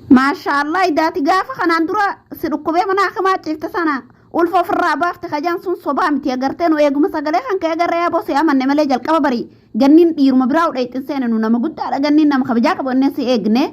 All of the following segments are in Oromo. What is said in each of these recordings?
Maashaallah idaati gaafa kanaan dura si dhukkubee mana hakimaa ciifte sana ulfa ofirraa baafte kajaan sun sobaa miti agartee nu eeguma sagalee kan ka'e agarree aboo si amanne malee jalqaba barii ganniin dhiiruma biraa udheexxin seene nu nama guddaadha ganniin nama kabajaa qabu innee si eegne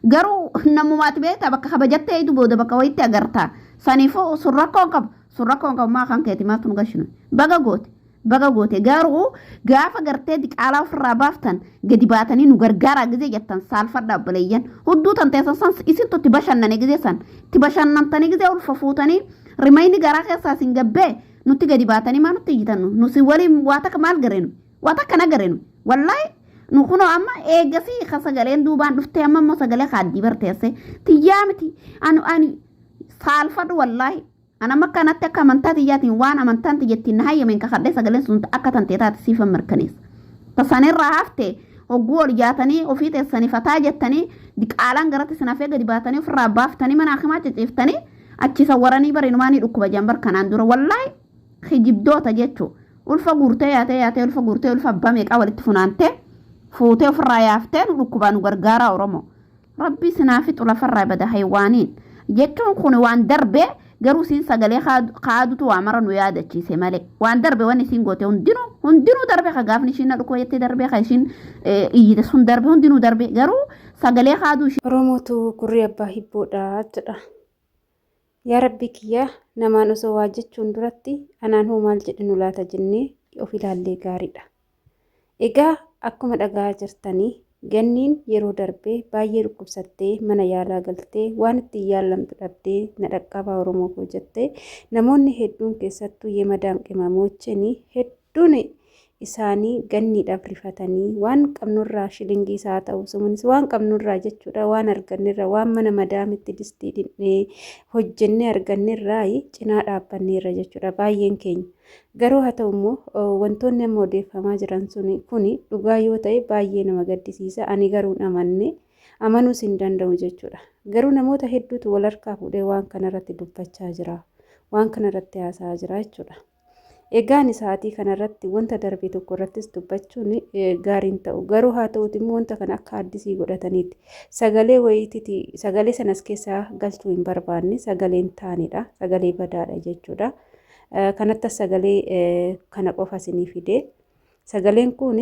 garuu namumaati beektaa bakka kabajattee idu booda bakka wayitti agarta saniifuu sun rakkoon qabu sun rakkoon qabu maa kan keeti maatu nu gashinu baga goote Baga goote garuu gaafa gartee diqaalaa ofirraa baaftan gadi baatanii nu gargaaraa gizee jettan saalfadha obboleeyyan hudduu tan teessan san isintu itti bashannane gizee san itti bashannantanii gizee ulfa fuutanii rimayni garaa keessaa isin gabbee nutti gadi baatanii maa nutti iyyitannu nu si waliin waa takka maal gareenu waa takka na gareenu wallaahi nu kunoo amma eegasii ka sagaleen duubaan dhuftee amma immoo sagalee kaaddii barteesse tiyyaa miti ani ani saalfadhu wallaahi An amma akkanatti akka amantaa tiyyaatiin waan amantaan tiyya ittiin na hayyameen kakadhee sagaleen sun ta akka tantee taate siifan mirkaneessa. Ta san irraa hafte hogguu ol jaatanii ofii teessanii fataa jettanii diqaalaan garatti sin hafee gadi baatanii ofirraa baaftanii mana hakimaa ciciiftanii achi isa waranii bara inumaa ni dhukkuba jaan bar kanaan dura wallaahi kijibdoota jechuu ulfa guurtee yaatee yaatee ulfa guurtee ulfa abbaa meeqaa walitti funaantee fuutee ofirraa yaaftee nu dhukkubaa nu gargaaraa Oromoo. Rabbii isin haa fixu lafarraa ibada haywaaniin. Jechuun kun waan darbe garuu isiin sagalee kaadutu waa mara nu yaadachiise malee. Waan darbe waan isiin goote hundinuu hundinuu darbe ka gaafni ishiin na dhukkuba jettee darbe ka ishiin iyyite sun darbe hundinuu darbe garuu sagalee kaaduu ishii. Oromootu gurri abbaa hibboodha jedha. Yaa Rabbii kiyya namaan osoo waa jechuun duratti anaan hoo maal jedhinu laata jennee yoo of ilaallee gaariidha. Egaa akkuma dhaga'aa jirtanii Ganniin yeroo darbe baay'ee dhukkubsattee mana yaalaa galtee waan ittiin yaallamtu dhabdee na dhaqqabaa Oromoo koo jettee namoonni hedduun keessattuu Yemadaan Qimamoocheen Hedduun isaanii ganniidhaaf rifatanii waan qabnurraa shilingiis haa ta'u sumunis waan qabnurraa jechuudha waan argannerra waan mana madaamitti distii dhinnee hojjennee argannerraa cinaa dhaabbanneerra jechuudha baay'een keenya. Garuu haa ta'u immoo wantoonni amma odeeffamaa jiran suni kuni dhugaa yoo ta'e baay'ee nama gaddisiisa ani garuun amanne amanuus hin danda'u jechuudha. Garuu namoota hedduutu wal harkaa fuudhee waan kanarratti dubbachaa jira waan kanarratti haasa'aa jira jechuudha. Egaa ani sa'aatii kanarratti wanta darbe tokko irrattis dubbachuun gaariin ta'u. Garuu haa ta'uuti immoo wanta kana akka addisii godhataniitti. Sagalee wayiititi sagalee sanas keessaa galchuu hin barbaanne sagaleen taanidha. Sagalee badaadha jechuudha. Kanattas sagalee kana qofa isinii fide. Sagaleen kun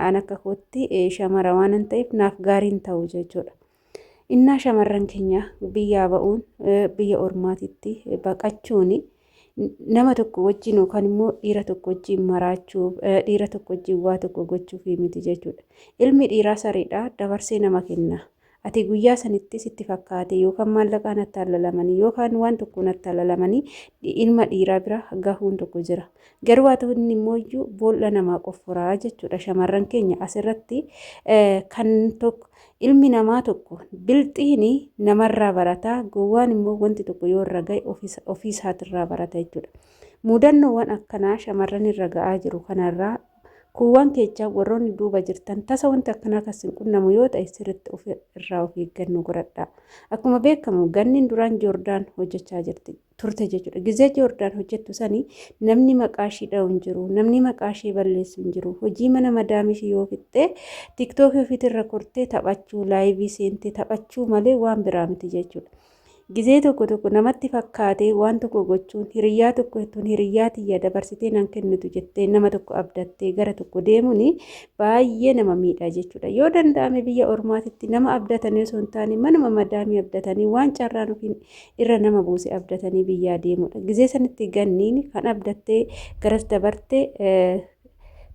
an akka kootti shamara waan ta'eef naaf gaariin ta'u jechuudha. Innaa shamarran keenya biyyaa ba'uun biyya ormaatitti baqachuun nama tokko wajjin yookaan immoo dhiira tokko wajjin maraachuuf dhiira tokko wajjin waa tokko gochuuf miti jechuudha. Ilmi dhiiraa sareedha dabarsee nama kenna. Ati guyyaa sanittis itti fakkaate yookaan maallaqaan attaallalamanii yookaan waan tokkoon attaallalamanii ilma dhiiraa bira gahuun tokko jira. Garuu haa ta'u inni immoo iyyuu boolla namaa qofforaa jechuudha. Shamarran keenya asirratti kan tokko Ilmi namaa tokko, bilxiin namarraa barata, gowwaan immoo wanti tokko yoo irra ga'e ofii isaatirraa barata jechuudha. Muudannoowwan akkanaa shamarran irra ga'aa jiru kanarraa kuuwwan keechaa warroonni duuba jirtan tasa wanti akkanaa kan isin qunnamu yoo ta'e sirriitti of irraa of eeggannoo godhadhaa. Akkuma beekamu ganniin duraan Joordaan hojjechaa jirti. turte jechuudha. Gizee Joordaan hojjettu sani namni maqaa ishii dha'u hin jiru. Namni maqaa ishii balleessu hin jiru. Hojii mana madaamii ishii yoo fixxee tiktookii ofiitirra kortee taphachuu laayivii seentee taphachuu malee waan biraa miti jechuudha. Gizee tokko tokko namatti fakkaatee waan tokko gochuun hiriyyaa tokko jettuun hiriyyaa tiyya dabarsitee nan kennitu jettee nama tokko abdattee gara tokko deemuun baay'ee nama miidha jechuudha. Yoo danda'ame biyya ormaatitti nama abdatanii osoo hin taane manuma madaamii abdatanii waan carraan ofiin irra nama buuse abdatanii biyyaa deemudha. Gizee sanitti ganniin kan abdattee garas dabarte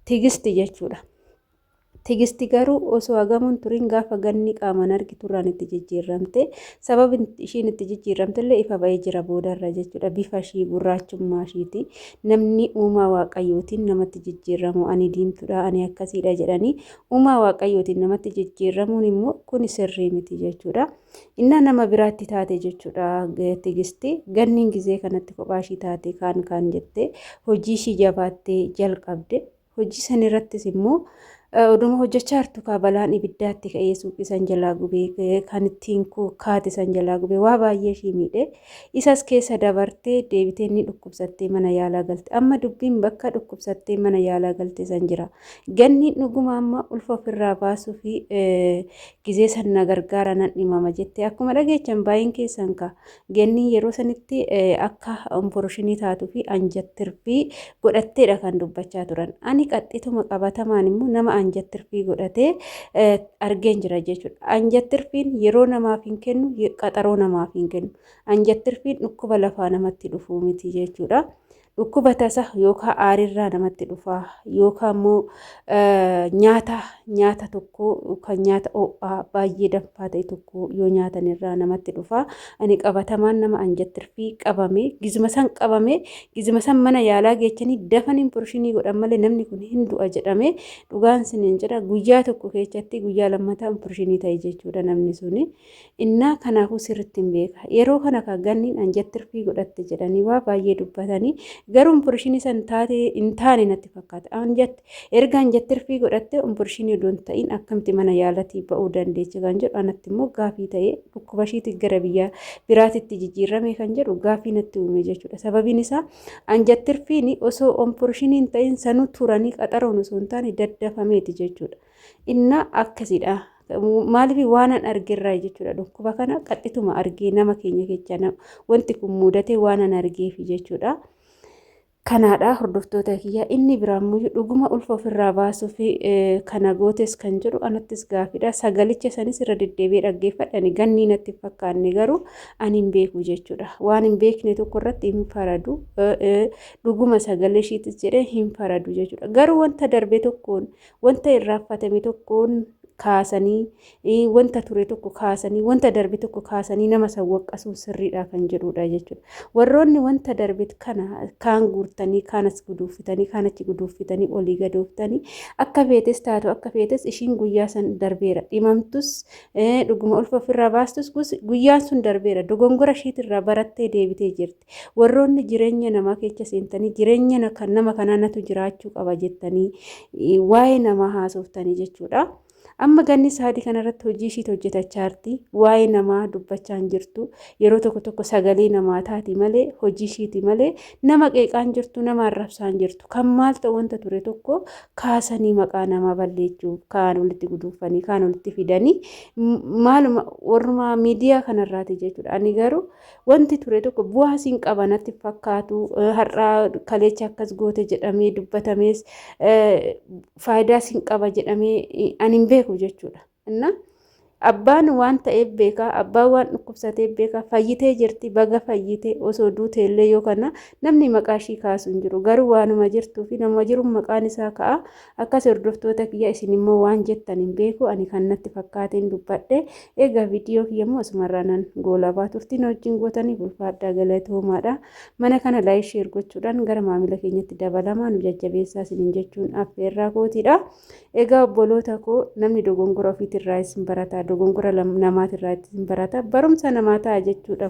tigisti jechuudha. Tigisti garuu osoo hagamuun turiin gaafa ganni qaamaan argiturraan itti jijjiirramte sababni ishiin itti jijjiirramte illee ifa ba'ee jira boodarra jechuudha. Bifa ishii gurraachummaa ishiiti namni uumaa waaqayyootiin namatti jijjiirramu ani diimtuudha ani akkasiidha jedhanii uumaa waaqayyootiin namatti jijjiirramuun immoo kun sirrii miti jechuudha. Innaa nama biraatti taate jechuudha tigisti ganniin gizee kanatti kophaa ishii taate kaan kaan jettee hojii ishii jabaattee jalqabde hojii san irrattis immoo oduma hojjechaa jirtu kaa balaan ibiddaatti ka'ee suuqii san jalaa gubee kan ittiin kaate san jalaa gubee waa baay'ee ishii miidhe isas keessa dabartee deebitee ni dhukkubsattee mana yaalaa galte amma dubbiin bakka dhukkubsattee mana yaalaa galte san jira ganniin dhuguma amma ulfa ofirraa baasuu fi gizee san na gargaara nan dhimama jette akkuma dhageechan baay'een keessan ka gennii yeroo sanitti akka umporoshinii taatuu fi anjattirfii godhatteedha kan dubbachaa turan ani qaxxituma qabatamaan immoo nama anjattirfii godhatee argeen jira jechuudha anjattirfiin yeroo namaaf hin kennu qaxaroo namaaf hin kennu anjattirfiin dhukkuba lafaa namatti dhufuu miti jechuudha. Dhukkuba tasa yookaan aarirraa namatti dhufa yookaan immoo nyaata nyaata tokko kan nyaata ho'aa baay'ee danfaa ta'e tokko yoo nyaatan irraa namatti dhufa. Ani qabatamaan nama anjattirfii qabame gizuma san qabame gizuma san mana yaalaa geechanii dafaniin porshinii godhan malee namni kun hin du'a jedhame dhugaan siniin jedha guyyaa tokko keessatti guyyaa lammataan porshinii ta'e jechuudha namni suni. Innaa kanaafuu sirrittin beeka. Yeroo kana kaa Ganniin anjat tirfii godhatte jedhanii waa baay'ee dubbatanii garuu umpurishinii san taate hin taane natti fakkaate. Anjat erga anjat tirfii godhatte umpurishinii odoo hin ta'in akkamitti mana yaalatii ba'uu dandeecha kan jedhu anatti immoo gaafii ta'ee dhukkuba ishiitti gara biyya biraatitti jijjiirramee kan jedhu gaafii natti uume jechuudha. Sababiin isaa anjat tirfiin osoo umpurishinii hin ta'in sanuu turanii qaxaroon osoo hin taane daddafameeti jechuudha. Innaa akkasidha. Maaliif waanan argerraa jechuudha dhukkuba kana qaxxituma argee nama keenya kecha wanti kun mudatee waanan argeef jechuudha. Kanaadha hordoftoota kiyya inni biraammoo dhuguma ulfa ofirraa baasuuf kana gootes kan jedhu anattis gaafidha. Sagalicha sanis irra deddeebi'ee dhaggeeffadhani gannii natti fakkaanne garuu ani hin beeku jechuudha. Waan hin beekne tokko irratti hin faradu. Dhuguma sagalee ishiitis jedhee hin faradu jechuudha. Garuu wanta darbe tokkoon Wanta irraaffatame tokkoon kaasanii, wanta ture tokko kaasanii, wanta darbe tokko kaasanii nama san waqqasuun sirriidha kan jedhuudha jechuudha. Warroonni wanta darbe kana kaan guurtanii, kaan as guduuffitanii, kaan achi guduuffitanii, olii gadooftanii akka feetes taatu akka feetes ishiin guyyaa san darbeera. Dhimamtus dhuguma ulfa ofirraa baastus guyyaan sun darbeera. Dogongora ishiitirraa barattee deebitee jirti. Warroonni jireenya namaa keessa seentanii jireenya na- kan nama kanaa natu jiraachuu qaba jettanii eh, waa'ee namaa haasoftanii jechuudha. Amma ganni saadii kanarratti hojii ishiit hojjetachaa jirti. Waa'ee namaa dubbachaa hin jirtu. Yeroo tokko tokko sagalee namaa taati malee hojii ishiiti malee nama qeeqaa hin jirtu nama arrabsaa hin jirtu. Kan maal ta'u wanta ture tokko kaasanii maqaa namaa balleessuu kaan walitti guduunfanii kaan walitti fidanii m- maaluma warrumaa miidiyaa kanarraati jechuudha. Ani garuu Wanti ture tokko bu'aa siin qaba natti fakkaatu har'aa kaleecha akkas goote jedhamee dubbatamees faayidaa siin qaba jedhamee ani hin beeku jechuudha. Innaa abbaan waan ta'eef beekaa abbaan waan dhukkubsateef beekaa fayyitee jirti baga fayyite osoo duute illee yoo kana namni maqaa ishii kaasu hin jiru garuu waanuma jirtuu fi nama jiruun maqaan isaa ka'a Akkas hordoftoota kiyya isin immoo waan jettan hin beeku ani kan natti fakkaateen dubbadhe egaa viidiyoo kiyya immoo asumarraa nan goolabaa turtii na wajjin gootaniif ulfaadhaa galatoomaadha mana kana laayik sheer gochuudhaan gara maamila keenyatti dabalamaa nu jajjabeessaa isinin jechuun affeerraa kootiidha egaa obboloota koo namni dogongora ofiitirraa isin barataa dogongora namaatirraa isin barataa barumsa namaa ta'a jechuudha